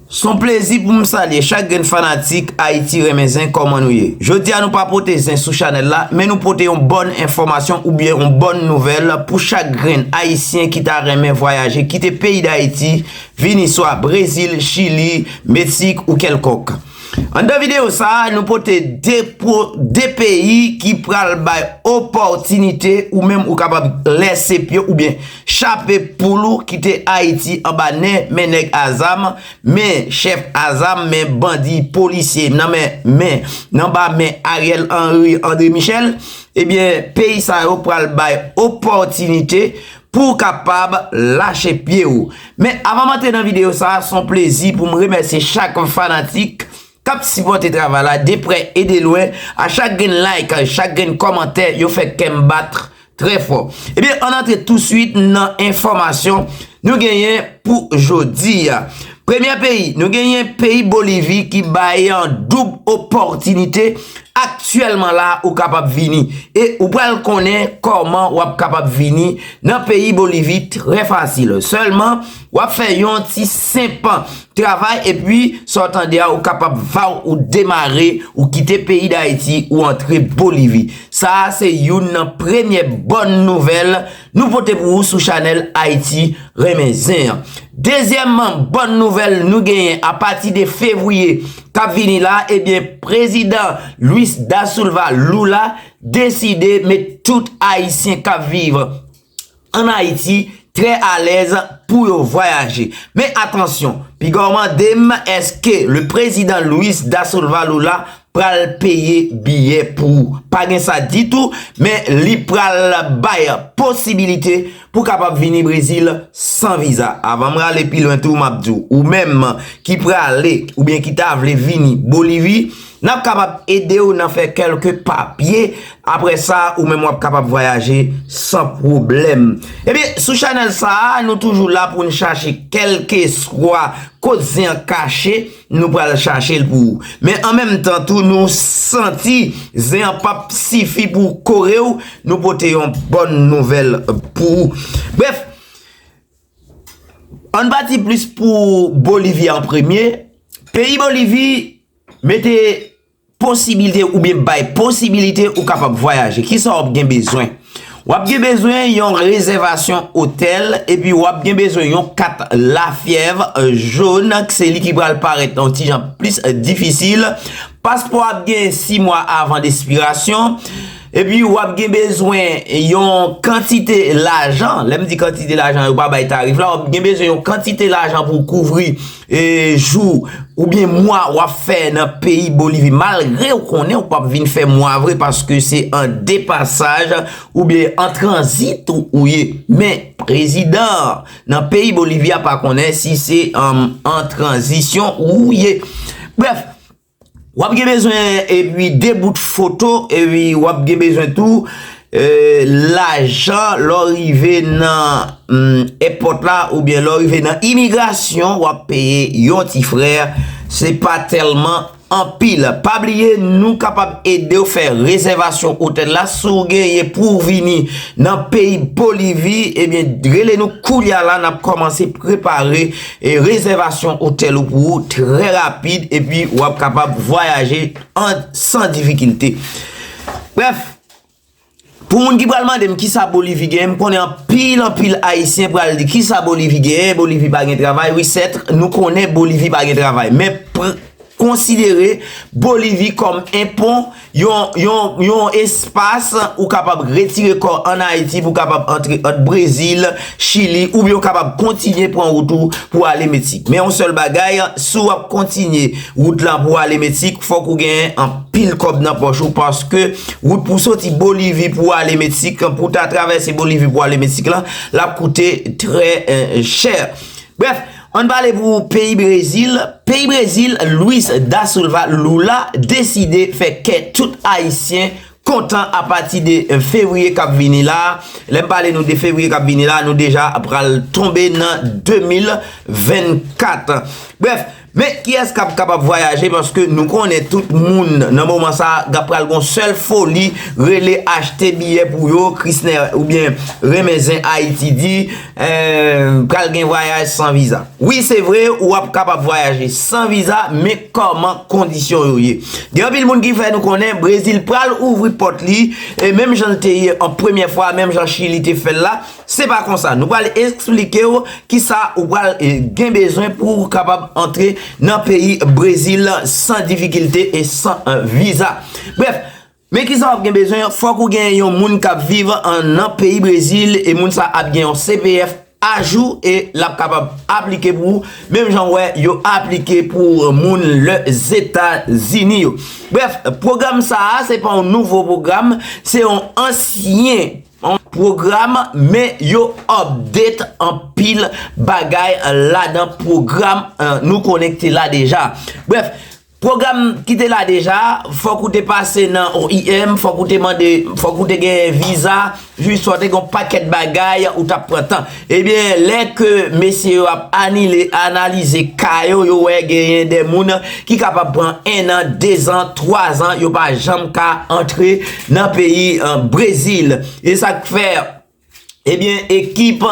Son plezi pou m salye chak grenn fanatik Ayiti renmen zen kòman nou ye? Jodi a nou pa pote zen sou chanèl la men nou pote yon bòn enfòmasyon oubyen yon bòn nouvèl pou chak grenn ayisyen ki ta renmen vwayaje kite peyi Dayiti vini swa Brezil, Chili, Meksik ou kèlkòk. Anndan videyo sa a, nou pote 2 peyi ki pral bay opòtinite ou menm ou kapab lèse pye w oubyen chape poul ou kite Ayiti anba nen men nèg a zam, men chèf a zam, men bandi, polisye nan men men nan anba men Ariel Henry, André Michel, ebyen peyi sa yo pral bay opòtinite pou w kapab lache pye w. Men avan m antre nan videyo sa, se yon plezi pou m remèsye chak fanatik k ap sipòte travay la de prè e de lwen, a chak grenn like, chak grenn kòmantè, yo fè kè m bat trè fò. Ebyen, ann antre tousuit nan enfòmasyon nou genyen pou jodi a. Premye peyi, nou genyen peyi Bolivi ki bay an doub opòtinite aktyèlman la ou kapab vini. E ou pral konnen kòman w ap kapab vini nan peyi Bolivi trè fasil. Sèlman, w ap fè yon ti senp travay epi sa w tande a ou kapab vaw ou demare, ou kite peyi Dayiti ou antre Bolivi. Sa a se youn nan premye bòn nouvèl Nou pote pou ou sou chanèl Ayiti renmen zen an. Dezyèmman bòn nouvèl nou genyen a pati de fevriye k ap vini la ebyen prezidan Luis Da Sulva Lula deside met tout ayisyen k ap viv ann Ayiti trè alèz pou yo vwayaje. Men atansyon, piga w mande m èske le prezidan Luis Da Sulva Lula pral peye biyè pou ou. Pa gen sa ditou, men li pral bay posibilite pou kapab vini Brezil san viza. Avan m rale pi lwen tou, m ap di w, ou menm ki prale oubyen ki ta vle vini Bolivi, n ap kapab ede w nan fè kèlke papye, aprè sa, ou menm w ap kapab vwayaje san pwoblèm. Ebyen, sou chanèl sa a, nou toujou la pou n chache kèlkeswa kot zen an kache. Nou pral chache l pou ou. Men an menm tan tou nou santi zen an pap sifi pou kore w, nou pote yon bòn nouvèl pou ou. Brèf, ann pati plis pou Bolivi an premye, peyi Bolivi mete. Posibilite oubyen bay posibilite ou kapab vwayaje. Kisa w ap gen bezwen? W ap gen bezwen yon rezèvasyon otèl epi w ap gen bezwen yon kat lafyèv jòn k se li ki pral parèt yon ti jan plis difisil. Paspò a ap gen 6 mwa avan despirasyon. Epi w ap gen bezwen yon kantite lajan, lè m di kantite lajan yo pa bay tarif la, w ap gen bezwen yon kantite lajan pou kouvri. jou oubyen mwa wap fè nan peyi Bolivi malgre ou konnen ou pap vin fè mwa vre paske se an de pasaj oubyen an tranzit ou ye men prezidan nan peyi Bolivi a pa konnen si se an tranzisyon ou ye bref Wap gen bezwen epi 2 bout foto epi wap gen bezwen tou lajan lè w rive nan èpòt la oubyen lè w rive nan imigrasyon wap peye yon ti frè se pa tèlman anpil. Pa bliye nou kapab ede w fè rezèvasyon otèl la si w genyen pou w vini nan peyi Bolivi ebyen rele nou kounye a la nap kòmanse prepare E rezèvasyon otèl ou pou ou trè rapid epi ou ap kapab vwayaje san difikilte. Brèf, pou moun ki pral mande m kisa Bolivi genyen, m konnen anpil anpil Ayisyen pral di kisa Bolivi genyen, Bolivi pa gen travay, wi sèt nou konnen Bolivi pa gen travay men konsidere Bolivi kòm en pon. Yon espas ou kapab retire kò an Ayiti pou kapab antre ant Brezil, Chili ou byen ou kapab kontinye pran wout ou pou ale Meksik. Men yon sèl bagay, si w ap kontinye wout lan pou ale Meksik, fòk ou gen anpil kòb nan pòch ou paske wout pou soti Bolivi pou ale Meksik, pou ta travèse Bolivi pou ale Meksik lan, l ap koute trè chè. Ann pale pou peyi Brezil, peyi Brezil Luis Da Silva Lula deside fè kè tout ayisyen kontan apati de fevriye kap vini la, lè m pale nou de fevriye kap vini la nou deja pral tonbe nan 2024. Brèf, men kiyès kap kapab vwayaje paske nou konnen tout moun nan moman sa gap pral gon sèl foli rele achte biyè pou yo krisnè oubyen renmen zen ayiti di. Pral gen vwayaj san viza. Wi se vre ou ap kapab vwayaje san viza men kòman kondisyon yo ye. Gen anpil moun ki fè nou konnen Brezil pral ouvri pòt li e menm jan l te ye an premyè fwa menm jan Chili te fè l la se pa konsa. Nou pral esplike w kisa ou pral gen bezwen pou w kapab antre nan peyi Brezil san difikilte e san viza. Brèf. Men kisa wap gen bezwen, fòk ou gen yon moun kap viv nan peyi Brezil e moun sa ap gen yon CPF ajou e lap kapab aplike pou ou menm jan ou wè yo aplike pou moun Lèzetazini yo. Brèf, pwogram sa a se pa yon nouvo pwogram, se yon ansyen pwogram men yo update anpil bagay ladan pwogram nou konnen ki te la deja. Brèf, Pwogram ki te la deja, fòk ou te pase nan OIM, fòk ou te mande, fòk ou te gen viza, jis fòk te gen yon pakèt bagay ou t ap pran tan. Ebyen, lè ke mesye yo ap anile, analize ka yo, yo wè genyen de moun ki kapab pran 1 an, 2 zan, 3 zan, yo pa janm ka antre nan peyi Brezil. E sa k fè. Ebyen ekip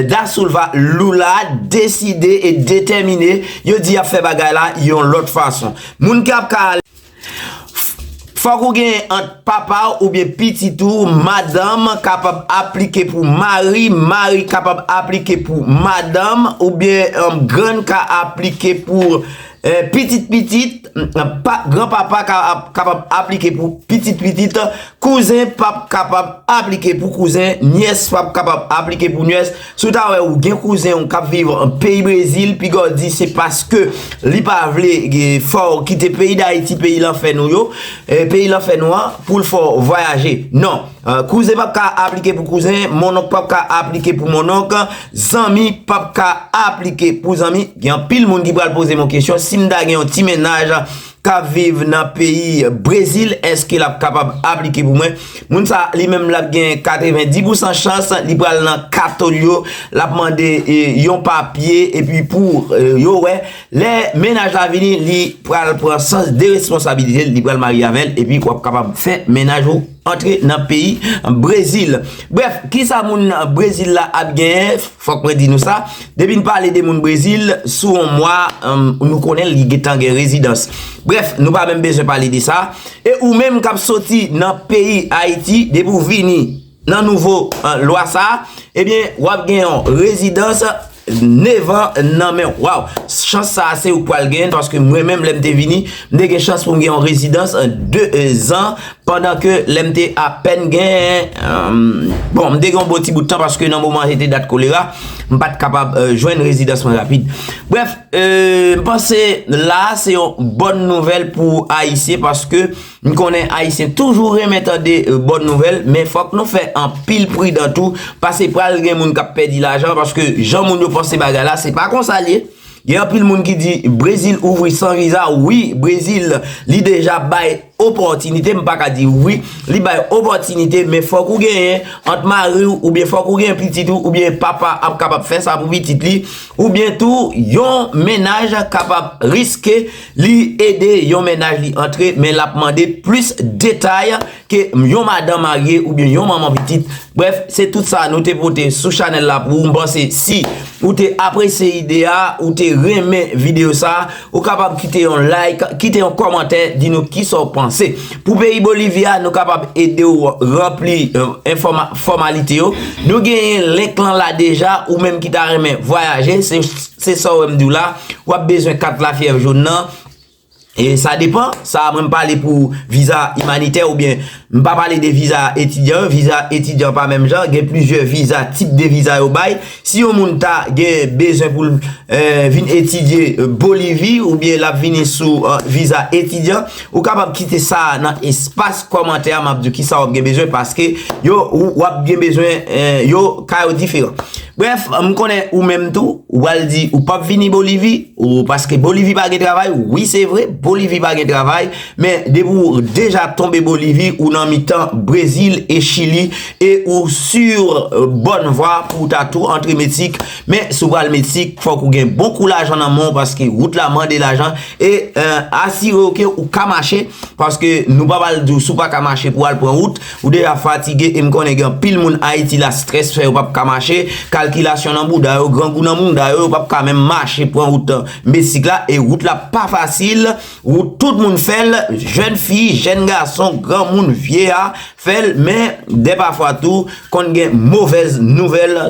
Dasulva Lou la deside e detèmine yo di yap fè bagay la yon lòt fason. Moun ki ap ka ale. Fòk ou gen ant papa w oubyen pitit ou, madanm kapab aplike pou mari, mari kapab aplike pou madanm oubyen grann ka aplike pou. Pitit pitit, gran papa kapab aplike pou pitit pitit, kouzen pap kapab aplike pou kouzen, nyès pap kapab aplike pou nyès. Si w ta wè ou gen kouzen ou k ap viv peyi Brezil, piga w di se paske li pa vle fè w kite peyi Dayiti, peyi lanfè nou yo, peyi lanfè nou an, pou l fè w vwayaje. Non! Kouzen pap ka aplike pou kouzen, mononk pap ka aplike pou mononk, zanmi pap ka aplike pou zanmi. Gen anpil moun ki pral poze m yon kesyon, si m ta gen yon ti mennaj k ap viv nan peyi Brezil, èske l ap kapab aplike pou mwen? Moun sa li menm l ap gen 90 pousan chans li pral nan kato l yo, l ap mande yon papye epi pou yo wè. Lè mennaj la vini, li pral pran sans de responsabilite l, li pral marye avè l epi w ap kapab fè mennaj ou. Antre nan peyi Brezil. Brèf, kisa moun Brezil la ap genyen, fòk mwen di nou sa, depi n pale de moun Brezil, sou yon mwa, nou konnen li gentan gen rezidans. Brèf, nou pa menm bezwen pale de sa. E ou menm k ap soti nan peyi Ayiti, depi ou vini nan nouvo lwa sa, ebyen, w ap gen yon rezidans. Nevan nan men w. Waw! Chans sa a se ou k pral genyen l paske mwen menm lè m te vini, m te gen chans pou m gen yon rezidans 2 zan pandan ke lè m te apèn gen bon m te gen yon bon ti bout tan paske nan moman an se te dat kolera m pa t kapab jwenn rezidans mwen rapid. Brèf, m panse la a se yon bòn nouvèl pou Ayisyen paske M konnen Ayisyen toujou renmen tande bòn nouvèl, men fòk nou fè anpil pridan tou, pase pral gen moun k ap pèdi lajan, paske jan moun yo panse bagay la, se pa konsa l ye. Gen anpil moun ki di Brezil ouvri san viza, wi, Brezil li deja bay opòtinite, m pa ka di ouvri, li bay opòtinite, men fòk ou genyen ant mari w, oubyen fòk ou gen pitit ou, oubyen papa ap kapab fè sa pou pitit li, oubyen tou yon mennaj kapab riske. Li ede yon mennaj li antre men l ap mande plis detay ke yon madan marye oubyen yon manman pitit. Brèf, se tout sa nou te pote sou chanèl la pou ou. M panse si ou te apresye ide a, ou te renmen videyo sa, ou kapab kite yon like, kite yon kòmantè, di nou kisa ou panse. Pou peyi Bolivi a, nou kapab ede ou ranpli fòmalite yo. Nou genyen link lan la deja, ou menm ki ta renmen vwayaje. Se sa w wè m di w la, w ap bezwen kat lafyèv joun nan, e sa depan, sa mwen m pale pou viza imanitè ou byen, m pa pale de viza etidyan, viza etidyan pa menm jan, gen plizyè viza, tip de viza yo bay, si yon moun ta gen bezwen pou l vin etidye Bolivi ou byen l ap vini sou viza etidyan, Ou kapab kite sa a nan espas kòmantè a map diw kisa wap gen bezwen paske yo wap gen bezwen yo ka yo diferan. Brèf m konnen ou menm tou ou pral di ou pap vini bolivi ou paske bolivi pa gen travay wi se vre bolivi pa gen travay men depi ou deja tonbe bolivi ou nan mitan brezil e chili e ou sur bòn vwa pou ou ta tou antre meksik men si w pral meksik fòk ou gen bon kou lajan nan men w paske wout la mande lajan. E asire w ke ou ka mache, paske nou pa pral di w si w pa ka mache pou w al pran wout, ou deja fatige e m konnen gen anpil moun Ayiti la strès fè yo pap ka mache, kalkilasyon nan bouda yo, grangou nan mouda yo, yo pap ka menm mache pran wout mesik la e wout la pa fasil, wout tout moun fè l, jèn fi, jèn gason, granmoun, vyeya fè l, men depafwa tou konn gen movèz nouvèl.